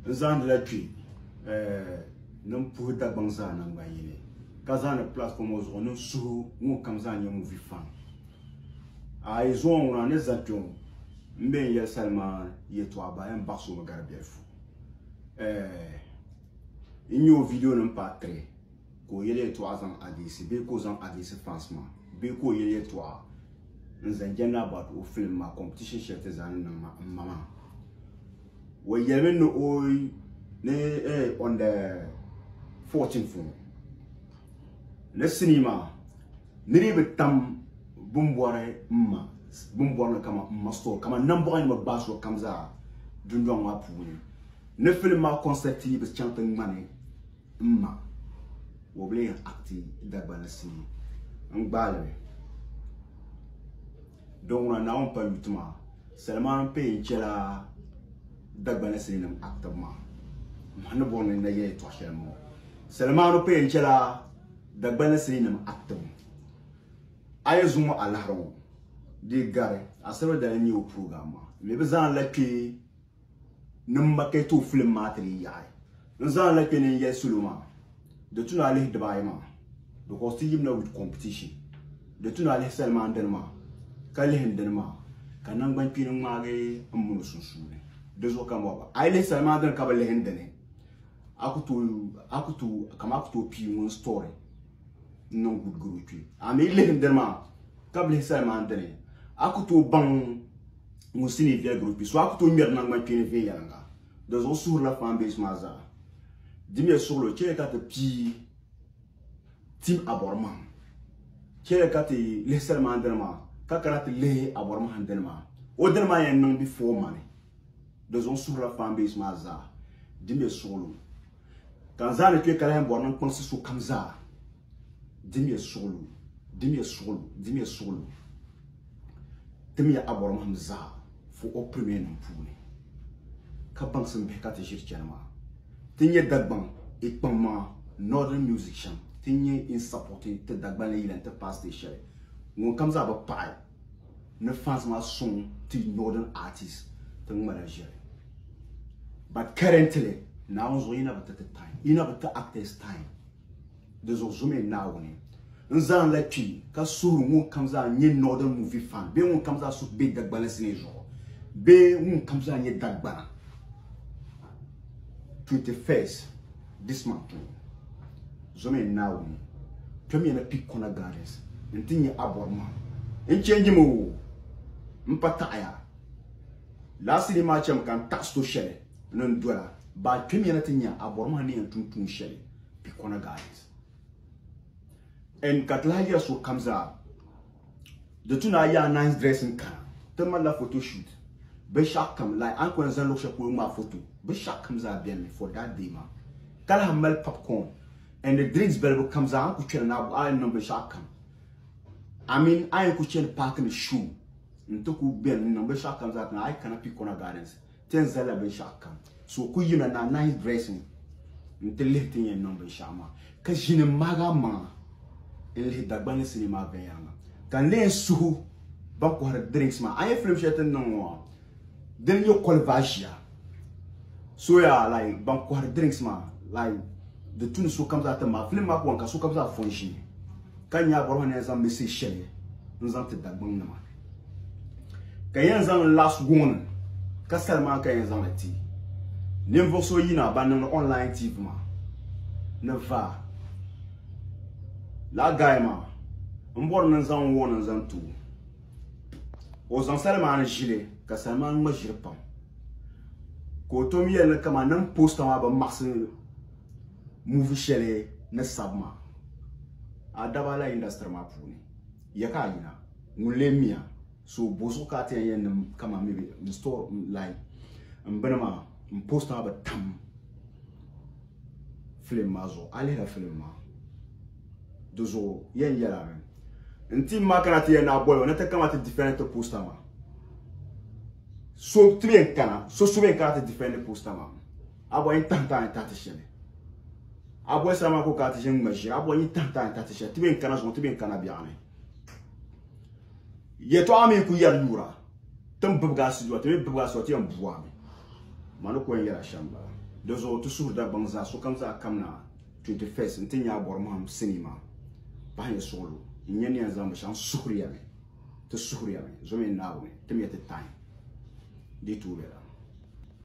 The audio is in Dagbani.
N zaandila kpi niŋ puhi Dagbaŋ zaa nangban yini ka zaani platform ŋɔ zuɣu niŋ suhu ŋun kam zaa nyɛ movie fan. A yi zuɣu ŋuna ni za kpe ŋɔ m be n yɛli salima yɛtɔɣa baa yɛn baɣisi o mi gari bɛlifu. N nyɛ o video nim paat 3. ka o yɛli yɛltɔɣa zaŋ adiisi bee ka o zaŋ adiisi fans maa bee ka o yɛli yɛltɔɣa n zaŋ jɛndi about o film maa competition shɛli ti zaa ni niŋ maa n ma maa o yɛlimi ni o ni eh, on the 14 fo ni sinii maa ni ni bi tam bimbɔri n ma bimbɔri ni kama n ma store kama nambɔɣu ni bi gbaai so kam zaa dundɔŋ maa puuni ni film maa concept yi bi chaŋ ti ŋmani M ma ka o bi lee yɛn acti Dagbani sii n gbaali li. Dɔŋɔna Naawuni pa yuti maa salima n pee n chɛla Dagbani sii nim actibu maa. M ma ni bɔri ni n na yɛli yɛtɔɣa shɛli n bɔŋɔ. Salimaanu pee n chɛla Dagbani sii nim actibu. A yi zuŋɔ a lahiri ŋɔ di gari asiri dali n nyɛ o program maa. M mi bi zaŋ li la kpɛ ni m ma ka yi tooi filim maa ti leei yaɣi. N zaŋla kpe ni n yɛli salo maa di tu ni a lihi dibaayi maa because ti yimina with competition. Di tu ni a lihi salimaandani maa ka lihi n dini maa ka nangbankpeeni ŋmaagi m mini o sunsuuni. Di zuɣu ka m bɔba a yi lihi salimaandani ka bi lihi n dini a ku tooi kaman a ku tooi pii ŋun story n niŋ good gari o kpee. A mi yi lihi n dini maa ka bi lihi salimaandani a ku tooi baŋ ŋun si ni viɛli group so a ku tooi ŋmɛri nangbani kpeeni viɛnyɛliŋga di zuɣu suhurila fan base maa zaa dimiya suɣulo chɛli ka ti pii tim abɔrimahim chɛli ka ti lihi salimaan dini maa ka kana ti lihi abɔrimahim dini maa o dini maa yɛn niŋ before mani di zuɣu suhurila fan base maa zaa dimiya suɣulo ka n zaa ni kpe ka lahi bɔri ni n kpaŋsi sokam zaa dimiya suɣulu dimiya suɣulu dimiya suɣulu timiya abɔrɔmahim zaa fo o pirimiyanim puuni ka baŋsim bihi ka ti ʒiri chani maa ti nyɛ Dagbaŋ ikpaŋ maa Northern Music shɛm ti nyɛ in sapoti ti Dagbanli yila nti paai siteji shɛli ŋunkam zaa bi paɣi ni fans maa suŋ ti Northern artist ti ŋmala ʒiri but currently Naawuni zuɣu yi na bi ti ti time yi na bi ti actors time Di zuɣu zumiya Naawuni n-zaŋ la kpi ka suhiri ŋun kam zaa nyɛ Northern Movie fan bee ŋun kam zaa suhu be Dagbani sinii zuɣu bee ŋun kam zaa nyɛ Dagbana 21st this month ŋɔ. Zumiya Naawuni kpɛmiya na Peak Corner Gardens n-ti nya Abɔrimaŋ n-change mi o m-pa taɣiya last sinii maa chami ka n taɣi sito shɛli ni n dola baa kpɛmiya na ti nya a bɔri maa ni yɛn tum tuun shɛli Pikɔna Gardens. N ka ti lahi yɛri sokam zaa di tu ni a yaa nice dress n kana ti malila photo shoot binshɛɣu kam like an kuli zaŋ luɣu shɛli polo ŋmaa photo binshɛɣu kam zaa beni mi for that day maa ka lahi mali popcorn and the drinks balibu kam zaa an ku kpɛri na a yɛn niŋ binshɛɣu kam I mean a yɛn ku chani paaki ni show n ti ku beni n niŋ binshɛɣu kam zaa ti na a yi kana Pikɔna Gardens Ti yɛn zalila binshɛɣu kam. So ku yina na nice dressing nti lihi ti ni yɛn niŋ binshɛɣu maa, ka ʒini m-mahigi a maŋa n-lihi Dagbani ni sinii maa viɛnyɛliŋga. Ka n lee yɛn suhu ban kɔhiri drinks maa. A nya film shɛli ti ni niŋ ŋɔ maa, di ni nyɛ koliva ʒia. So yaa like ban kɔhiri drinks maa like di tu ni sokam zaa ti maagi. Film maa ku wan ka sokam zaa fɔ n-ʒini ka nya a bɔrɔba ni yɛn zaŋ message shɛli n-zaŋ ti Dagbaŋ nima. ka yɛn zaŋ last warning ka sali maa ka yɛn zaŋli ti ninvuɣu so yina ban niŋdi online tv maa ni vaa la guy maa n bɔri ni zaŋ warning zaŋ ti o o zaŋ sali maa ni ʒili ka sali maa ŋma ʒiri pam ka o tom yɛli ni kama niŋ posta maa bi maɣasi muvi shɛli ni sabi maa a daba la industry maa puuni Ya ka a yina, ŋun lee mi a? So bozuɣu ka a ti yɛn yɛn niŋ kaman mi be n store n lahi n bini maa n post maa bi tam film maa zuɣu? A lihila film maa di zuɣu yɛn yɛli amen. N team maa kana ti yɛn naai boli ba na ti kana ti defend ti poster maa. So ti be n kana so so be n kana ti defend poster maa. Abɔi yi tahi tahi tahi ti shɛli. Abɔi sara maa ka o kana ti ʒini ŋma ʒiri. Abɔi yi tahi tahi tahi ti shɛli. Ti bɛ n-kana zuŋɔ ti bɛ n-kana biɛɣu ni. Yɛtɔɣa mi ku yɛri yuura. Tin bibigi a siduwa ti mi bibigi a siduwa ti yɛn bua mi. Ma ni ku yɛn yɛli a shɛm bala. Di zuɣu ti suhuri Dagbaŋ zaa sokam zaa kam na 21st nti nya a bɔri mahim sinii maa pahi nyɛ suɣulo. N-nyɛ ni yɛn zaŋ binshɛɣu n-suhiri ya mi. Ti suhiri ya mi. Zo mi n naagi o ni ti mi ya ti tahi di yi tuui bɛ la.